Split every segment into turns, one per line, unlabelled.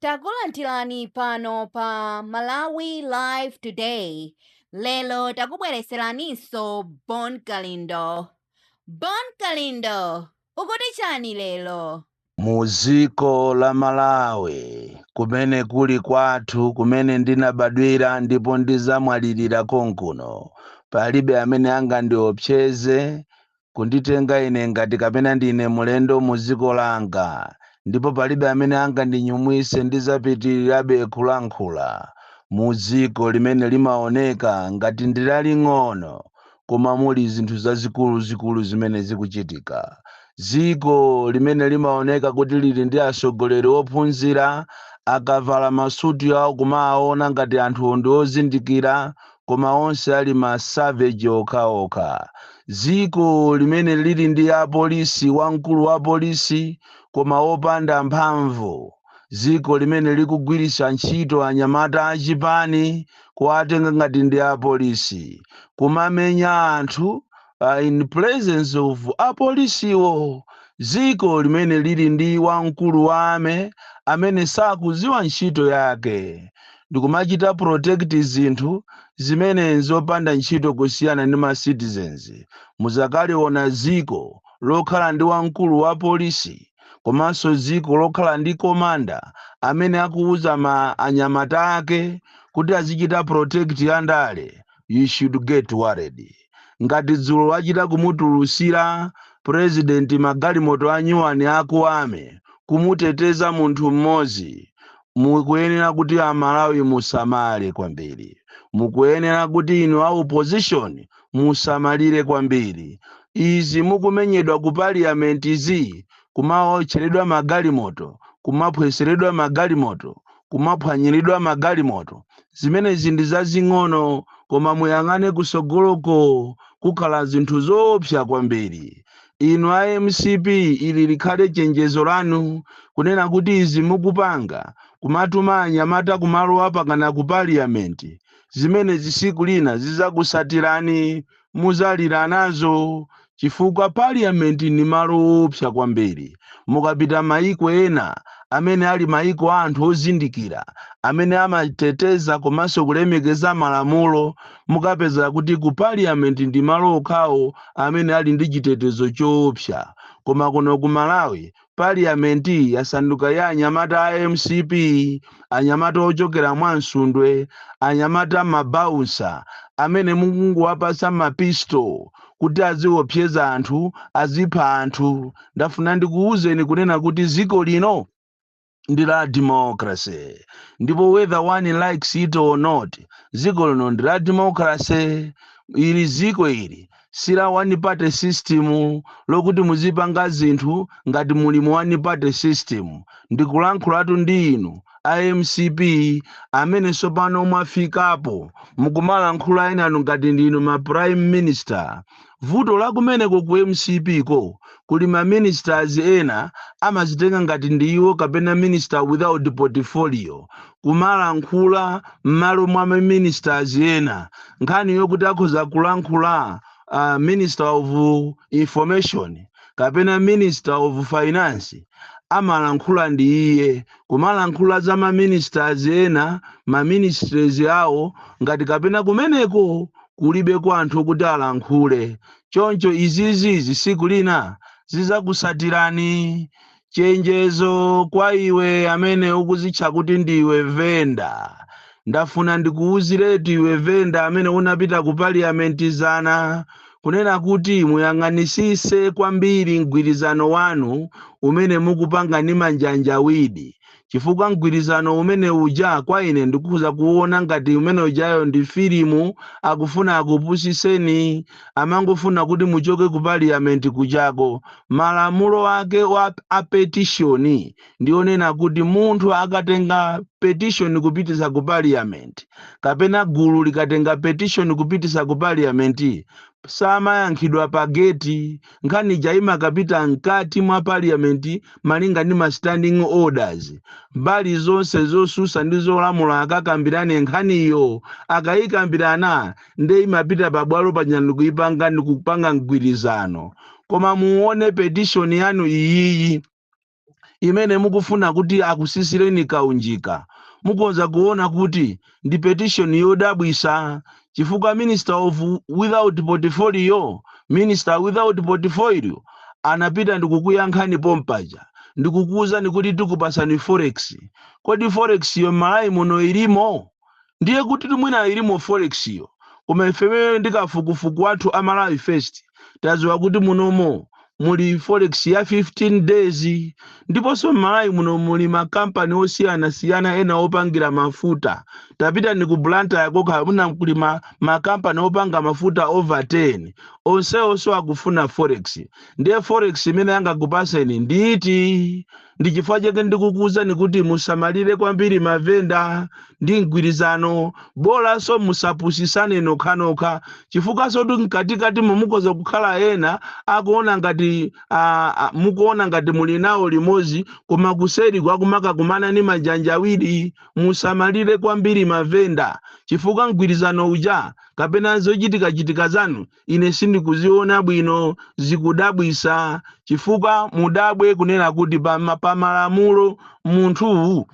Takulandirani pano pa Malawi Live Today. Lero takubwereseraninso Bon Kalindo. Bon Kalindo, ukuti chani lero? Mu dziko
la Malawi kumene kuli kwathu kumene ndinabadwira ndipo ndizamwalirira konkuno palibe amene angandiopseze kunditenga ine ngati kapena ndine mlendo mu dziko langa, ndipo palibe amene angandinyumwise, ndidzapitirirabe kulankhula mu dziko limene limaoneka ngati ndi laling'ono koma muli zinthu zazikuluzikulu zimene zikuchitika, dziko limene limaoneka kuti lili ndi atsogoleri ophunzira, akavala masuti awo kumawaona ngati anthuwo ndi ozindikira koma onse ali ma savage okhaokha. Dziko limene lili ndi apolisi wamkulu wa polisi koma wopanda mphamvu, dziko limene likugwiritsa ntchito anyamata a chipani kuwatenga ngati ndi apolisi kumamenya anthu in presence of apolisiwo, dziko limene lili ndi wamkulu wa army amene sakuziwa ntchito yake ndikumachita protect zinthu zimene nzopanda ntchito kusiyana ndi ma citizens muzakaliona dziko lokhala ndi wamkulu wa polisi komanso dziko lokhala ndi commander amene akuwuza ma anyamata ake kuti azichita protect andale you should get worried. ngati dzulo wachita kumutulusira president magalimoto anyuwani aku army kumuteteza munthu mmodzi mukuyenera kuti amalawi musamale kwambiri mukuyenera kuti inu a opposition musamalire kwambiri izi mukumenyedwa ku parliament zi kumaotcheredwa magalimoto kumaphweseredwa magalimoto kumaphwanyiridwa magalimoto. Zimenezi ndi zazing'ono, koma muyang'ane kutsogoloko, kukhala zinthu zoopsa kwambiri. Inu a mcp ili likhale chenjezo lanu, kunena kuti izi mukupanga, kumatuma anyamata kumalowa mpakana ku parliament, zimenezi siku lina zizakusatirani muzalira nazo chifukwa parliament ndi malo oopsa kwambiri mukapita maiko ena amene ali maiko a anthu ozindikira amene amateteza komanso kulemekeza malamulo mukapeza kuti ku parliament ndi malo okhawo amene ali ndi chitetezo choopsa koma kuno ku malawi Parliament yasanduka ya anyamata a mcp, anyamata ochokera mwa Msundwe, anyamata ma bouncer amene mukungowapatsa ma pistol kuti aziwopseza anthu, azipha anthu. Ndafuna ndikuwuzeni kunena kuti dziko lino ndi la democracy ndipo whether one likes it or not dziko lino ndi la democracy. Ili dziko ili. si la one party system lokuti muzipanga zinthu ngati muli mu one party system ndikulankhulatu ndi inu a mcp amene tsopano mwafikapo mukumalankhula enanu ngati ndinu ma prime minister vuto lakumeneko ku mcp ko kuli ma ministers ena amazitenga ngati ndi iwo kapena minister without portfolio kumalankhula m'malo mwa ma ministers ena nkhani yokuti akhoza kulankhula uh, minister of information kapena minister of finance amalankhula ndi iye kumalankhula za ma ministers ena ma ministries awo ngati kapena kumeneko kulibe kwa anthu kuti alankhule choncho izizizi siku lina zizakusatirani Chenjezo kwa iwe amene ukuzitcha kuti ndiwe venda. Ndafuna ndikuwuziretu iwe venda amene unapita ku parliament dzana kunena kuti muyang'anisise kwambiri mgwirizano wanu umene mukupanga ndi Manja Njawidi Chifukwa mgwirizano umene uja kwa ine ndikukhoza kuona ngati umene ujayo ndi filimu akufuna akupusitseni amangofuna kuti muchoke ku parliament kujako. Malamulo ake a petition ndi onena kuti munthu akatenga petition kupititsa ku parliament kapena gulu likatenga petition kupititsa ku parliament samayankhidwa pa gate. Nkhani ija imakapita mkati mwa parliament malinga ndi ma standing orders. Mbali zonse zosusa ndi zolamula akakambirane nkhaniyo. Akayikambirana nde imapita pa bwalo paja ndikuyipanga ndikupanga mgwirizano. Koma muwone petition yanu iyiyi. imene mukufuna kuti akusisireni kaunjika, mukhoza kuona kuti ndi petition yodabwisa chifukwa minister of without portfolio, minister without portfolio anapita ndikukuyankhani pompaja ndikukuuzani kuti tikupasani forex, kodi forex yo m'Malawi muno ilimo? ndiye kutitu mwina ilimo forex yo koma ifeyo ndi kafukufuku wathu a Malawi first taziwa kuti munomo muli forex ya 15 days ndiponso m'Malawi muno muli ma company osiyana siyana ena opangira mafuta tapita ndi ku Blantyre kokha kuna kuli ma, ma company opanga mafuta over 10 onseonso akufuna forex ndiye forex imene yangakupaseni ndi iti Ndi chifukwa chake ndikukuwuzani kuti musamalire kwambiri mavenda ndi mgwirizano, bolanso musapusisane nokhanokha, chifukwanso kuti mkatikati mukhoza kukhala ena akuona ngati a, a, mukuona ngati muli nawo limodzi, koma kuseri kwake kumakakumana ndi ma njanja awiri. Musamalire kwambiri mavenda, chifukwa mgwirizano uja kapena zochitikachitika zanu ine sindikuziona bwino zikundidabwisa chifukwa mudabwe kunena kuti pa ma- pa malamulo munthu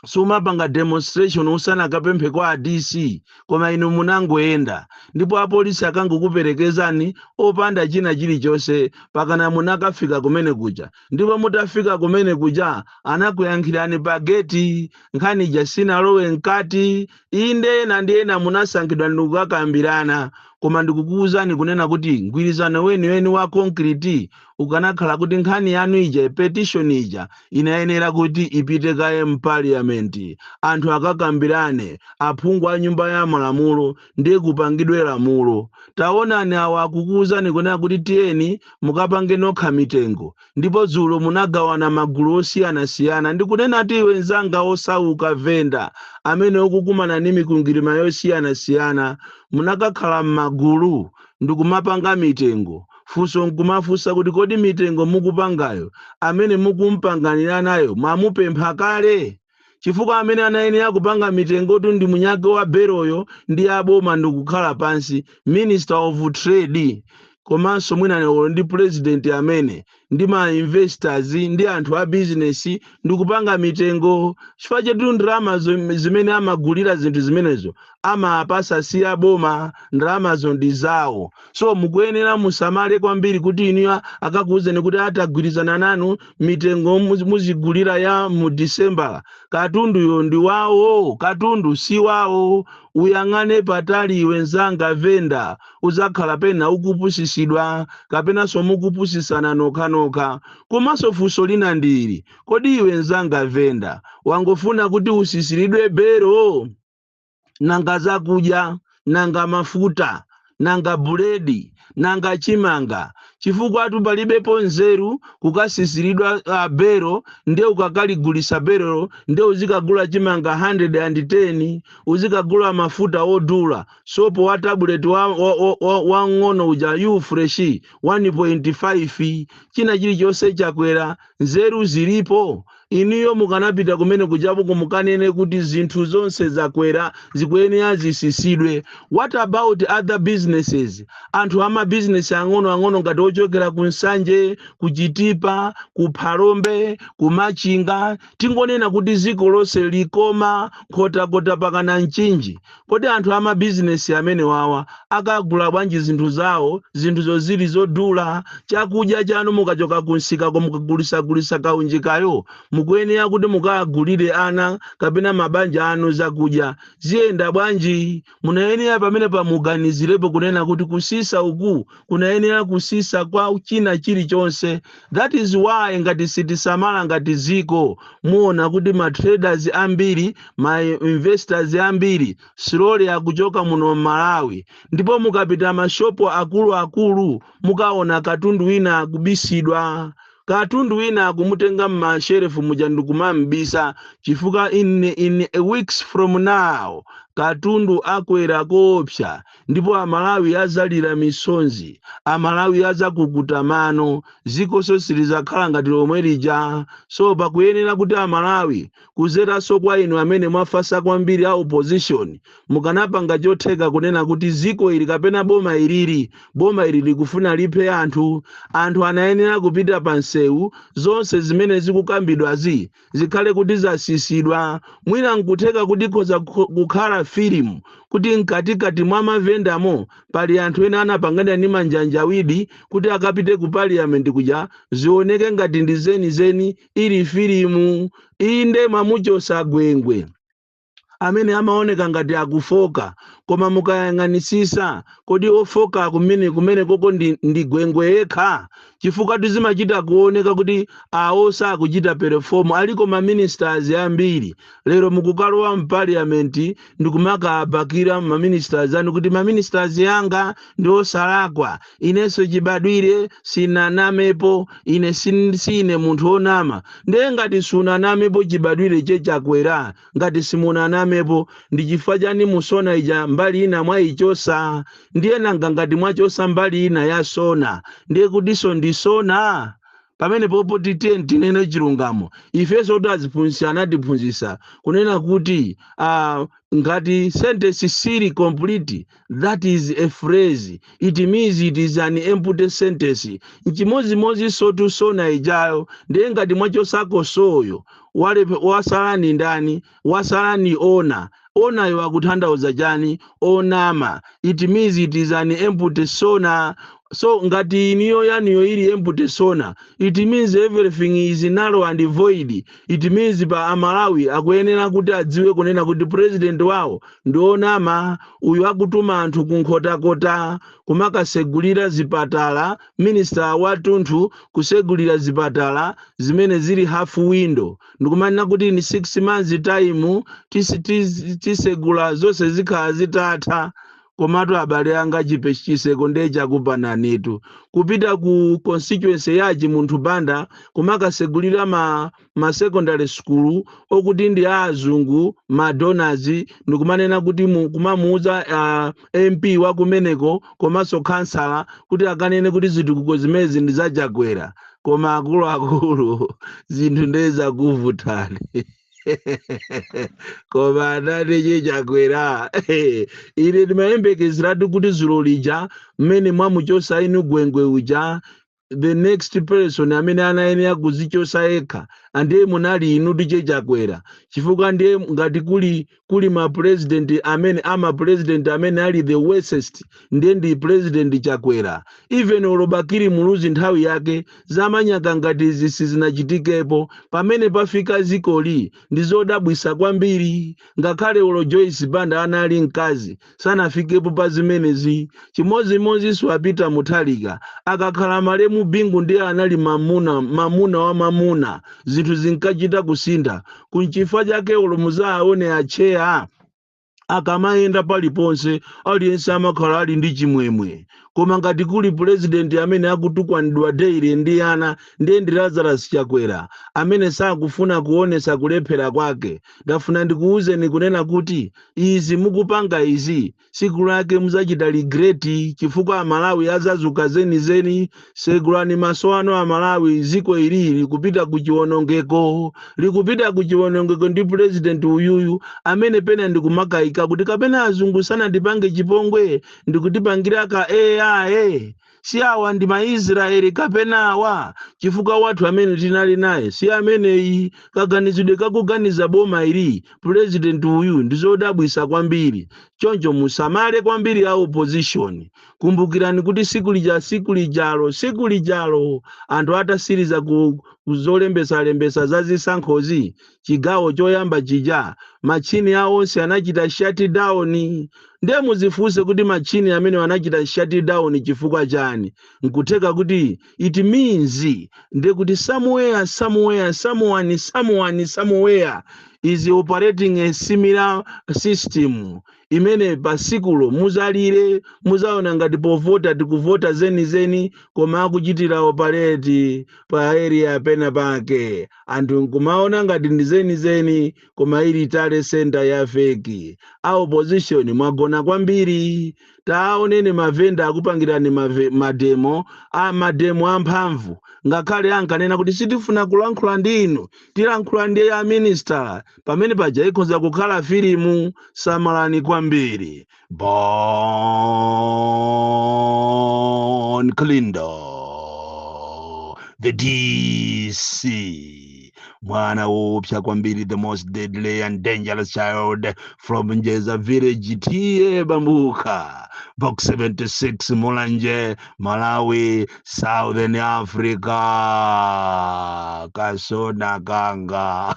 sumapanga demonstration usanakapemphe kwa a DC koma inu munangoyenda ndipo apolisi anangokuperekezani opanda china chilichonse pakana munakafika kumene kuja ndipo mutafika kumene kuja anakuyankhirani pa geti nkhani ija sinalowe mkati Inde, ena ndi ena munasankhidwa ndi kukakambirana, koma ndikukuuzani kunena kuti mgwirizano weniweni wa concrete ukanakhala kuti nkhani yanu ija, petition ija, inayenera kuti ipite kaye m'Parliament, anthu akakambirane, aphungu a Nyumba ya Malamulo, ndiye kupangidwe lamulo. Taonani awa akukuuzani kunena kuti tiyeni mukapange nokha mitengo. Ndipo dzulo munagawana m'magulu osiyanasiyana ndikunena kwa iwe mzanga wosauka, venda, amene ukukumana ndi mikwingwirima yosiyanasiyana, munakakhala m'magulu ndi kumapanga mitengo. Funso n'kumafunsa kuti, Kodi mitengo mukupangayo, amene mukum'pangiranayo mwamupempha kale? chifukwa amene anayenera kupanga mitengotu ndi mwini wake wa beloyo ndi aboma ndikukhala pansi minister of trade komanso mwina nkono ndi president amene ndi ma investors ndi anthu a business ndikupanga mitengo chifukwa chetu ndalama zim- zimene amagulira zinthu zimenezo amawapasa si a boma ndalamazo ndi zawo so mukuyenera musamale kwambiri kuti inuyo akakuwuzeni kuti atagwirizana nanu mitengo muzi- muzigulira ya mu December katunduyo ndi wawo katundu si wawo uyang'ane patali iwe nzanga venda uzakhala penapake ukupusisidwa kapenanso mukupusisana nokhanokha komanso funso lina ndili kodi iwe nzanga venda wangofuna kuti usisiridwe belo nanga zakudya nanga mafuta nanga buledi nanga chimanga chifukwa apatu palibepo nzeru kukasisiridwa uh, bero nde ukakaligulisa berolo nde uzikagula chimanga 110 uzikagula mafuta odula sopo wa tabuleti wang'ono wa, wa, wa, wang'ono uja U-Fresh 1.5 china chilichonse chakwera nzeru zilipo Inuyo mukanapita kumene kujaku mukanene kuti zinthu zonse zakwera zikuyenera zisisidwe. What about other businesses? Anthu ama business ang'ono ang'ono ngati ochokera ku Nsanje, ku Chitipa, ku Phalombe, ku Machinga, tingonena kuti ziko lonse Likoma, Nkhotakota pakana Mchinji, Kodi anthu a mabizinesi amenewawa akagula bwanji zinthu zawo zinthuzo zili zodula? Chakudya chanu mukachoka kumsikako mukagulisagulisa kaunjikayo mukuyenera kuti mukagulire ana kapena mabanja anu zakudya. Ziyenda bwanji? Munayenera pamenepa muganizirepo kunena kuti kusisa uku kunayenera kusisa kwa china chilichonse that is why ngati sitisamala ngati dziko muona kuti ma traders ambiri ma investors ambiri slowly akuchoka muno Malawi ndipo mukapita mashopo akuluakulu mukaona katundu wina akubisidwa katundu wina akumutenga m'mashelefu muja ndikumam'bisa chifukwa in a weeks from now katundu akwera koopsa ndipo amalawi azalira misonzi, amalawi azakukuta mano, zikoso silizakhala ngati lomwe lija, so pakuyenera kuti amalawi kuzeraso kwa inu amene mwafasa kwambiri a opposition mukanapanga chotheka kunena kuti ziko ili kapena boma ilili, boma ili likufuna liphe anthu, anthu anayenera kupita pa msewu, zonse zimene zikukambidwazi zikhale kuti zasisidwa mwina nkutheka kuti khoza kukhala filimu kuti mkatikati mwa mavendamo pali anthu ena anapangana ndi manjanjawidi kuti akapite ku parliament kuja zioneke ngati ndi zenizeni ili filimu inde mwamuchosa Gwengwe amene amaoneka ngati akufoka koma mukayang'anisisa kodi ofoka kumene kumeneko ndi, ndi Gwengwe yekha chifukwa zimachita kuoneka kuti awo sakuchita perform aliko ma ministers ambiri lero mukukalowa m'parliament ndikumakabakira ma ministers anu kuti ma ministers anga ndi osalakwa inenso chibadwire sinanamepo ine sin- sine munthu onama ndiye ngati sunanamepo chibadwire Che Chakwera ngati simunanamepo ndi chifukwa chani mu SONA ija mbali ina mwayichosa ndiye nanga ngati mwachosa mbali ina ya SONA ndiye kutiso ndi SONA pamene popo titiye tinene chilungamo ifenso aziphunzitsi anatiphunzitsa kunena kuti uh, ngati sentence siili complete That is a phrase, it means it is an empty sentence. Nchimodzimodzinsotu sona ijayo, ndiye ngati mwachosako soyo, walepe, wasala ni ndani? Wasala ni ona. Onayo akuthandauza chani? Onama. It means it is an empty sona. So ngati iniyo yaniyo ili empty sona, it means everything is narrow and void. it means Amalawi akuyenera kuti adziwe kunena kuti president wawo ndi onama uyu akutuma anthu ku nkhotakota kumakasegulira zipatala minister watunthu kusegulira zipatala zimene zili half window ndikumanena kuti in six months time tisi- tisi- tisegula zonse zikhala zitatha Komatu abale anga chitseko nde chakupananitu. Kupita ku constituency ya a Chimunthu Banda kumakasegulira ma, ma secondary school okuti ndi a azungu ma donors ndikumanena kuti mu, kumamuuza uh, MP wa kumeneko komanso khansala kuti akanene kuti zitukuko zimezi ndi za Chakwera. Koma akuluakulu zinthu nde zakuvutani. koma abwana Che Chakwera ine ndimayembekezeratu kuti zulo lija mmene mwamuchosa inu gwengwe uja the next person amene anayenera kuzichosa yekha ndiye munali inu Che Chakwera chifukwa ndiye ngati kuli kuli ma president amene ama president amene ali the worst ndiye ndi president Chakwera even olo Bakili Muluzi nthawi yake zamanyaka ngati izi sizinachitikepo pamene pafika dzikoli ndizodabwisa kwambiri ngakhale olo Joyce Banda anali mkazi sanafikepo pa zimenezi chimodzimodzinso a Peter Mutharika akakhala malemu bingu ndiye anali mamuna mamuna wa mamuna zinthu zinkachita kusintha nchifukwa chake olo muzaaone atcheya akamayenda paliponse aliyense amakhala ali ndi chimwemwe koma ngati kuli pulezidenti amene akutukwanidwa daily ndi ana ndiye ndi lazarus chakwera amene sakufuna kuonesa kulephera kwake ndafuna ndikuwuzeni kunena kuti izi mukupanga izi siku lake muzachita regret chifukwa amalawi azazuka zenizeni segulani maso anu amalawi ziko ili likupita ku chiwonongeko likupita ku chiwonongeko ndi president uyuyu amene pena ndikumakayika kuti kapena azungu sanatipange chipongwe ndikutipangira ka AI Si awa ndi Maisraeli kapena awa? Chifukwa wathu amene tinali naye si ameneyi. Kaganizidwe ka kuganiza boma ili, pulezidenti uyu, ndi zodabwitsa kwambiri. Choncho musamale kwambiri a opposition. Kumbukirani kuti tsiku lija, tsiku lijalo, tsiku lijalo, anthu atatsiriza ku, ku zolembetsalembetsa za zisankhozi, chigawo choyamba chija matchini awo onse anachita shutdown ndiye muzifunse kuti matchini amenewa anachita shutdown chifukwa chani nkutheka kuti it means ndiye kuti somewhere somewhere someone someone somewhere is operating a similar system imene pasikulo muzalire muzaona ngati povota tikuvota zenizeni koma akuchitira operate pa area pena pake anthu nkumaona ngati ndi zenizeni koma ili tally centre ya feki a opposition mwagona kwambiri taoneni mavenda akupangirani mave- mademo a mademo amphamvu ngakhale ankanena kuti sitifuna kulankhula ndi inu tilankhula ndi a minister pamene paja ikhoza kukhala filimu samalani kwambiri bon kalindo the dc mwana woopsa kwambiri the most deadly and dangerous child from njeza village t a mabuka box 76 mulanje malawi southern africa kasona kanga